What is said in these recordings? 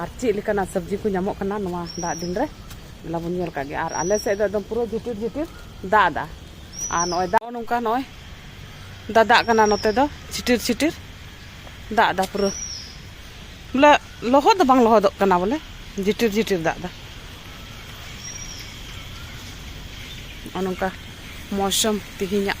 ᱟᱨ ᱪᱮᱫ ᱞᱮᱠᱟᱱᱟᱜ ᱥᱚᱵᱽᱡᱤ ᱠᱚ ᱧᱟᱢᱚᱜ ᱠᱟᱱᱟ ᱱᱚᱣᱟ ᱫᱟᱜ ᱫᱤᱱ ᱨᱮ ᱚᱱᱟ ᱵᱚᱱ ᱧᱮᱞ ᱠᱟᱜ ᱜᱮᱭᱟ ᱟᱨ ᱟᱞᱮ ᱥᱮᱫ ᱫᱚ ᱮᱠᱫᱚᱢ ᱯᱩᱨᱟᱹ ᱡᱷᱤᱯᱤᱨ ᱡᱷᱤᱯᱤᱨ ᱫᱟᱜ ᱫᱟ ᱟᱨ ᱱᱚᱜᱼᱚᱭ ᱫᱟᱜ ᱱᱚᱝᱠᱟ ᱱᱚᱜᱼᱚᱭ ᱫᱟᱫᱟᱜ ᱠᱟᱱᱟ ᱱᱚᱛᱮ ᱫᱚ ᱪᱷᱤᱴᱤᱨ ᱪᱷᱤᱴᱤᱨ ᱫᱟᱜ ᱫᱟ ᱯᱩᱨᱟᱹ ᱵᱚᱞᱮ ᱞᱚᱦᱚᱫ ᱫᱚ ᱵᱟᱝ ᱞᱚᱦᱚᱫᱚᱜ ᱠᱟᱱᱟ ᱵᱚᱞᱮ ᱡᱷᱤᱴᱤᱨ ᱡᱷᱤᱴᱤᱨ ᱫᱟᱜ ᱫᱟ ᱱᱚᱜᱼᱚ ᱱᱚᱝᱠᱟ ᱢᱚᱣᱥᱚᱢ ᱛᱮᱦᱮᱧᱟᱜ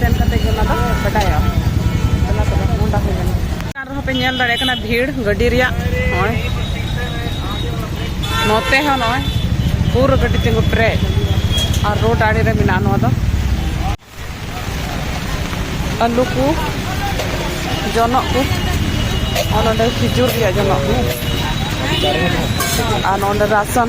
ᱥᱮᱱ ᱠᱟᱛᱮ ᱜᱮ ᱚᱱᱟ ᱫᱚ ᱵᱟᱰᱟᱭᱚᱜᱼᱟ ᱚᱱᱟ ᱛᱚᱵᱮ ᱢᱚᱱᱰᱟ ᱦᱩᱭ ᱞᱮᱱᱟ ᱪᱮᱛᱟᱱ ᱨᱮᱦᱚᱸ ᱯᱮ ᱧᱮᱞ ᱫᱟᱲᱮᱭᱟᱜ ᱠᱟᱱᱟ ᱵᱷᱤᱲ ᱜᱟᱹᱰᱤ ᱨᱮᱭᱟᱜ ᱱᱚᱜᱼᱚᱭ ᱱᱚᱛᱮ ᱦᱚᱸ ᱱᱚᱜᱼᱚᱭ ᱯᱩᱨᱟᱹ ᱜᱟᱹᱰᱤ ᱛᱤᱸᱜᱩ ᱯᱮᱨᱮᱡ ᱟᱨ ᱨᱳᱰ ᱟᱲᱮ ᱨᱮ ᱢᱮᱱᱟᱜᱼᱟ ᱱᱚᱣᱟ ᱫᱚ ᱟᱹᱞᱩ ᱠᱚ ᱡᱚᱱᱚᱜ ᱠᱚ ᱟᱨ ᱱᱚᱰᱮ ᱠᱷᱤᱡᱩᱨ ᱨᱮᱭᱟᱜ ᱡᱚᱱᱚᱜ ᱠᱚ ᱟᱨ ᱱᱚᱰᱮ ᱨᱟᱥᱚᱱ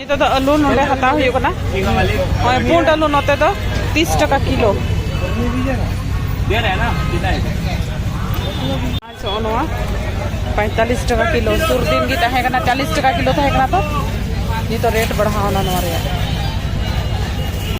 ᱱᱤᱛᱚᱜ ᱫᱚ ᱟᱹᱞᱩ ᱱᱚᱰᱮ ᱦᱟᱛᱟᱣ ᱦᱩᱭᱩᱜ ᱠᱟᱱᱟ ᱱᱚᱜᱼᱚᱭ ᱯᱩᱸᱰ ᱟᱹᱞᱩ ᱱᱚᱛᱮ ᱫᱚ ᱛᱤᱥ ᱴᱟᱠᱟ ᱠᱤᱞᱳ ᱱᱚᱜᱼᱚ ᱱᱚᱣᱟ ᱯᱚᱸᱭᱛᱟᱞᱤᱥ ᱴᱟᱠᱟ ᱠᱤᱞᱳ ᱥᱩᱨ ᱫᱤᱱ ᱜᱮ ᱛᱟᱦᱮᱸ ᱠᱟᱱᱟ ᱪᱟᱞᱤᱥ ᱴᱟᱠᱟ ᱠᱤᱞᱳ ᱛᱟᱦᱮᱸ ᱠᱟᱱᱟ ᱛᱚ ᱱᱤᱛᱚᱜ ᱨᱮᱴ ᱵᱟᱲᱦᱟᱣᱱᱟ ᱱᱚᱣᱟ ᱨᱮᱭᱟᱜ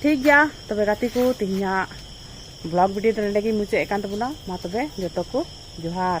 ᱴᱷᱤᱠ ᱜᱮᱭᱟ ᱛᱚᱵᱮ ᱜᱟᱛᱮ ᱠᱚ ᱛᱮᱦᱮᱧᱟᱜ ᱵᱞᱚᱜ ᱵᱷᱤᱰᱤᱭᱳ ᱫᱚ ᱱᱚᱰᱮ ᱜᱮ ᱢᱩᱪᱟᱹᱫ ᱮᱫ ᱠᱟᱱ ᱛᱟᱵᱚᱱᱟ ᱢᱟ ᱛᱚᱵᱮ ᱡᱚᱛᱚ ᱠᱚ ᱡᱚᱦᱟᱨ